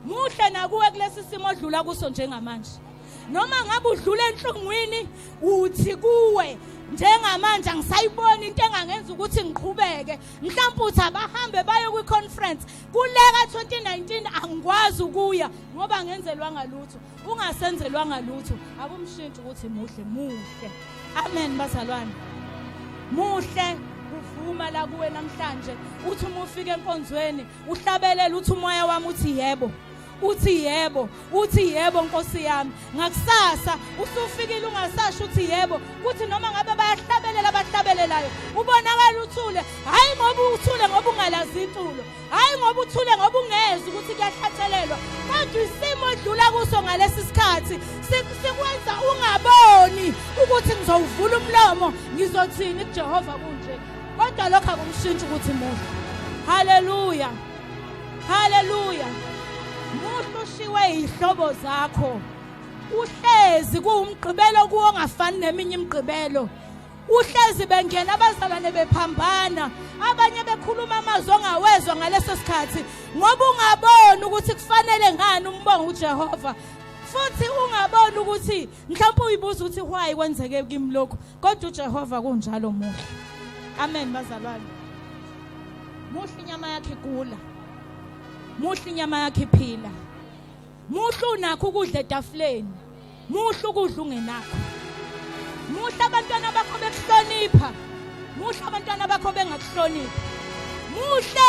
muhle nakuwe kulesi simo odlula kuso njengamanje noma ngabe udlula enhlungwini uthi kuwe njengamanje angisayiboni into engangenza ukuthi ngiqhubeke mhlawumbe uthi abahambe baye kwi-conference kuleka 2019 angikwazi ukuya ngoba angenzelwanga lutho ungasenzelwanga lutho akumshintshi ukuthi muhle muhle amen bazalwane muhle uvuma la kuwe namhlanje uthi uma ufika enkonzweni uhlabelele uthi umoya wami uthi yebo uthi yebo uthi yebo nkosi yami ngakusasa usufikile ungasasho uthi yebo kuthi noma ngabe bayahlabelela abahlabelelayo ubonakala uthule hhayi ngoba uthule ngoba ungalazi intulo hhayi ngoba uthule ngoba ungezi ukuthi kuyahlatshelelwa kodwa isimo odlula kuso ngalesi sikhathi sikwenza ungaboni ukuthi ngizowuvula umlomo ngizothini kujehova kunje kodwa lokho akumshintshi ukuthi muhle haleluya haleluya muhle ushiwe yihlobo zakho uhlezi kuwumgqibelo kuwo ngafani neminye imigqibelo uhlezi bengena abazalwane bephambana abanye bekhuluma amazwi ongawezwa ngaleso sikhathi ngoba ungaboni ukuthi kufanele ngani umbonga uJehova futhi ungaboni ukuthi mhlawumbe uyibuza ukuthi why kwenzeke kimi lokho kodwa uJehova kunjalo muhle amen bazalwane muhle inyama yakhe kula muhle inyama yakhe iphila muhle unakho ukudla etafuleni muhle ukudla ungenakho muhle abantwana bakho bekuhlonipha muhle abantwana bakho bengakuhloniphi muhle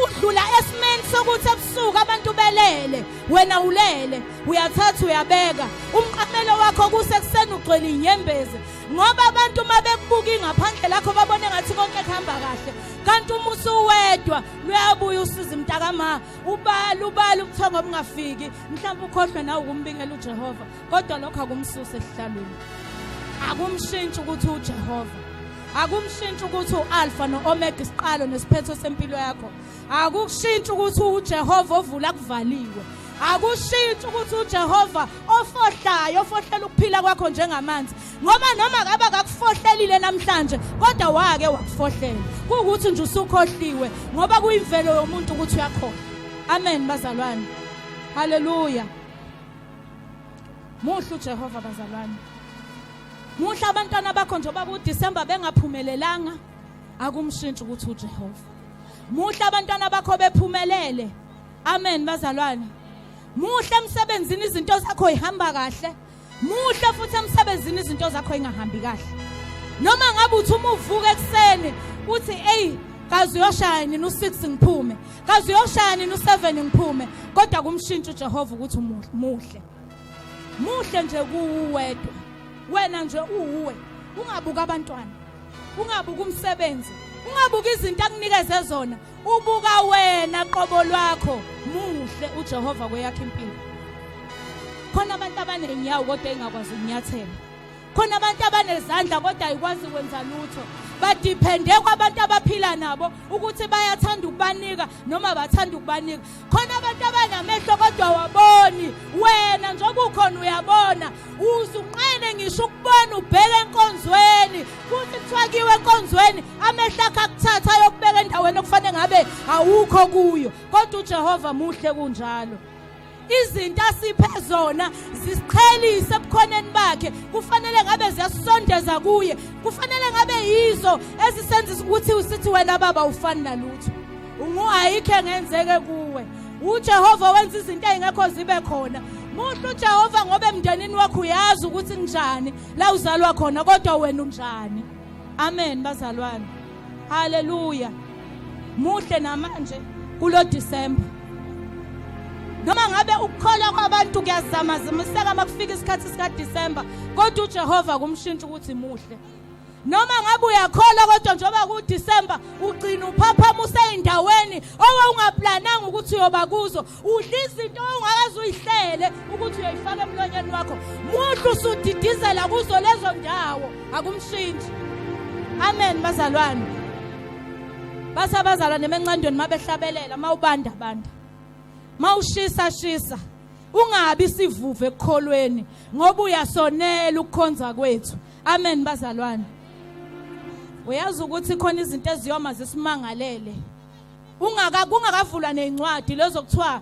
udlula esimeni sokuthi ebusuku abantu belele wena ulele uyathatha uyabeka umqamelo wakho kusekuseni ugcwele inyembezi ngoba abantu uma bekubuka ingaphandle lakho babone ngathi konke kuhamba kahle kanti uma usuwedwa luyabuya usizi mntakama ubala ubala ubuthongo obungafiki mhlawumbe ukhohlwe nawe ukumbingela ujehova kodwa lokho akumsuse esihlalweni akumshintshi ukuthi ujehova akumshintshi ukuthi u-alfa no-omega isiqalo nesiphetho sempilo yakho Akukushintsha ukuthi uJehova ovula kuvaliwe. Akukushintsha ukuthi uJehova ofohlayo ofohlela ukuphila kwakho njengamanzi. Ngoba noma ngabe akakufohlelile namhlanje kodwa wake wakufohlela. Kuwukuthi nje usukhohliwe ngoba kuyimvelo yomuntu ukuthi uyakhohlwa. Amen bazalwane. Hallelujah. Muhle uJehova bazalwane. Muhle abantwana bakho njengoba kuDecember bengaphumelelanga akumshintshi ukuthi uJehova. muhle abantwana bakho bephumelele amen bazalwane muhle emsebenzini izinto zakho ihamba kahle muhle futhi emsebenzini izinto zakho ingahambi kahle noma ngabe uthi uma uvuka ekuseni uthi eyi kaze uyoshaya nini u-6 ngiphume kaze uyoshaya nini u-7 ngiphume kodwa kumshintsha ujehova ukuthi muhle muhle nje kuwuwedwa wena nje uwuwe ungabuka abantwana ungabuki umsebenzi ungabuki izinto akunikeze zona ubuka wena qobo lwakho muhle uJehova kweyakhe impilo khona abantu abanenyawo kodwa engakwazi ukunyathela khona abantu abanezandla kodwa ayikwazi kwenza lutho badiphende kwabantu abaphila nabo ukuthi bayathanda ukubanika noma bathanda ukubanika khona abantu abanamehlo kodwa waboni wena njengoba ukhona uyabona uzunqene ngisho ukubona ubheke enkonzweni futhi kuthiwa kiwe enkonzweni amehlo akho akuthatha ayokubeka endaweni okufanele ngabe awukho kuyo kodwa ujehova muhle kunjalo izinto asiphe zona zisiqhelise ebukhoneni bakhe kufanele ngabe ziyasondeza kuye kufanele ngabe yizo ezisenzisa ukuthi usithi wena baba ufani nalutho Unguhayikho engenzeke kuwe. UJehova wenza izinto ezingekho zibe khona. Muhle uJehova ngoba emndenini wakho uyazi ukuthi kunjani la uzalwa khona kodwa wena unjani. Amen bazalwane. Hallelujah. Muhle namanje kulo December. Noma ngabe ukukholwa kwabantu kuyazama zimiseka makufika isikhathi sika December kodwa uJehova kumshintsha ukuthi muhle. noma ngabe uyakholwa kodwa njengoba kuDecember ugcina uphaphama useyindaweni owawungaplananga ukuthi uyoba kuzo udla izinto ongakaze uyihlele ukuthi uyoyifaka emlonyeni wakho muhle usudidizela kuzo lezo ndawo akumshintshi amen bazalwane bathi abazalwane emencandweni mabehlabelela mawubanda banda mawushisa shisa ungabi sivuve ekukholweni ngoba uyasonela ukukhonza kwethu Amen bazalwane. Uyazi ukuthi khona izinto eziyoma zisimangalele. Ungaka kungakavulwa nezincwadi lezo kuthiwa